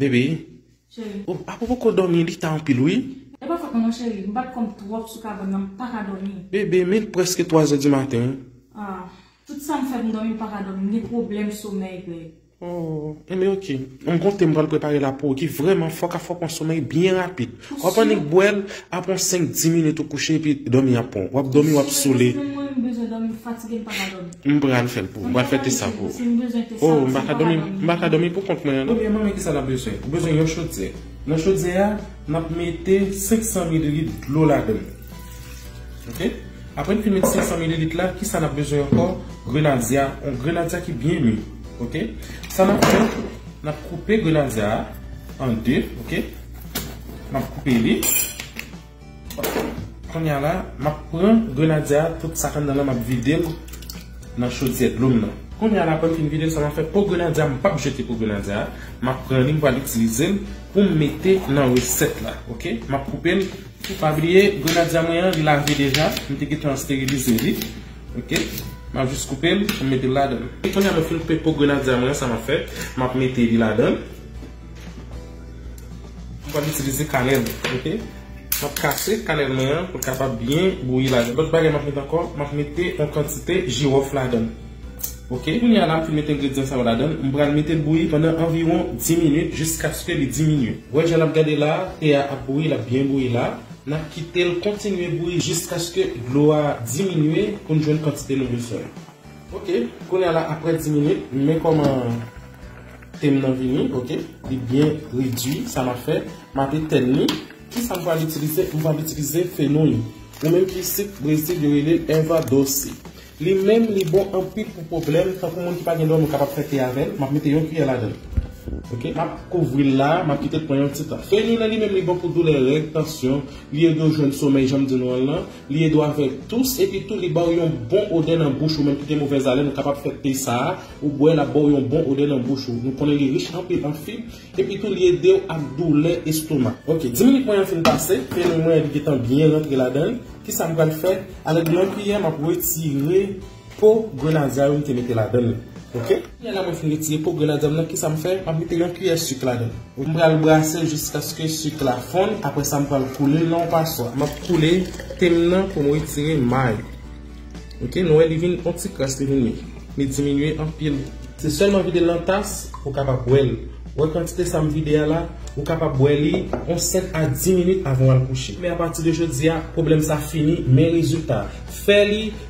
Bebe. Cheri. O, apo poko dòmi, li ta anpil wi. E pa fòt mwen non cheri, m bat kò m twòp sou kabann nan, m paka dòmi. Bebe, men l prèske twazè di maten. A, tout sa m fè pou m dòmi m paka dòmi, m gen pwoblèm somèy Greg. O, enben ok. M gonte m pral prepare la pou ou ki vrèman fò ka fòk on somèy byen rapid. Wap annik bwèl, ap on 5 10 minit ou kouche epi dòmi ap pranw. Wap dòmi wap sole. M pral fèl pou ou. M pral fè te sa pou ou. Oh m paka dòmi m paka dòmi pou kont mwen an non. Premyèman men kisa nap bezwen. Ou bezwen yon chodyè. Nan chodyè a nap mete 500 mililit dlo ladann. Ok. Aprè n fin met 500 mililit la kisa nap bezwen ankò grenadya. On grenadya ki byen mi. Ok. Sa nap fè nap koupe grenadya a an 2 ok. Map koupe li. Konya la, map pran grenadye a, tout sa k anndan lan map vide l nan chodyè dlo m nan. Konya la aprè m fin vide l sa map fè, po grenadye a m pap jete po grenadye a, map pran li m pral itilize l pou m mete nan resèt la ok. Map koupe l, pou pa bliye grenadye mwen an li lave deja, m te gentan sterilize li ok. Map jis koupe l pou m mete l ladan l. Konya mwen fin koupe po grenadye mwen an sa map fè, map mete li ladan l. M pral itilize kanèl ok. M ap kase kanèl mwen an pou l kapab byen bouyi ladan. Lòt bagay m ap mete ankò, m ap mete yon kantite jiwòf ladan l ok. Kounye a la m fin mete engredyan sa yo ladan l, m pral mete l bouyi pandan anviwon 10 minit jiskaske li diminye. Wè jan n ap gade la, te a ap bouyi, l ap byen bouyi la. N ap kite l kontinye bouyi jiskaske dlo a diminye pou n jwenn kantite nou bezwen an. Ok kounya la aprè 10 minit men kòman tem nan vini ok li byen redwi sa map fè map etèn li kisa m pral itilize m pral itilize fenoy ou menm ki sik brezil yo rele l erva doce li menm li bon anpil pou pwoblèm tankou moun ki pa gen dò nou kapab fè te avèl map mete yon kiyè ladann ok map kouvri l la map kite l pran yon ti tan fenoy lan li menm li bon pou doulè règ tansyon li ede w jwenn somèy janm di nou an lan. Li ede w avèk tous epi tou li ba w yon bon odè nan bouch ou menm ki gen movèz alèn ou kapab fè te sa a ou bwè l ap ba w yon bon odè nan bouch ou nou konnen li rich anpil an fib epi tou li ede w ak doulè estomak. Ok 10 minit mwen an fin pase fenoumen an li gentan byen rantre ladann kisa m pral fè avèk yon kiyè m ap retire. Po grenadya yo m te mete ladan l ok. Lè la mwen fin retire po grenadya m nan kisa m fè map mete yon kiyè suk ladan l. M pral brase jiskaske suk la fonn aprè sa m pral koule l nan yon paswa. Map koule te m nan pou m retire may ok nou wè li vin yon ti kras li vin mi li diminye anpil. Se sèlman vide l nan tas ou kapab bwè l ou wè kantite sa m vide a la ou kapab bwè li yon 5 a 10 minit avan w al kouche men apati de jodi a pwoblèm sa fini men rezilta fè li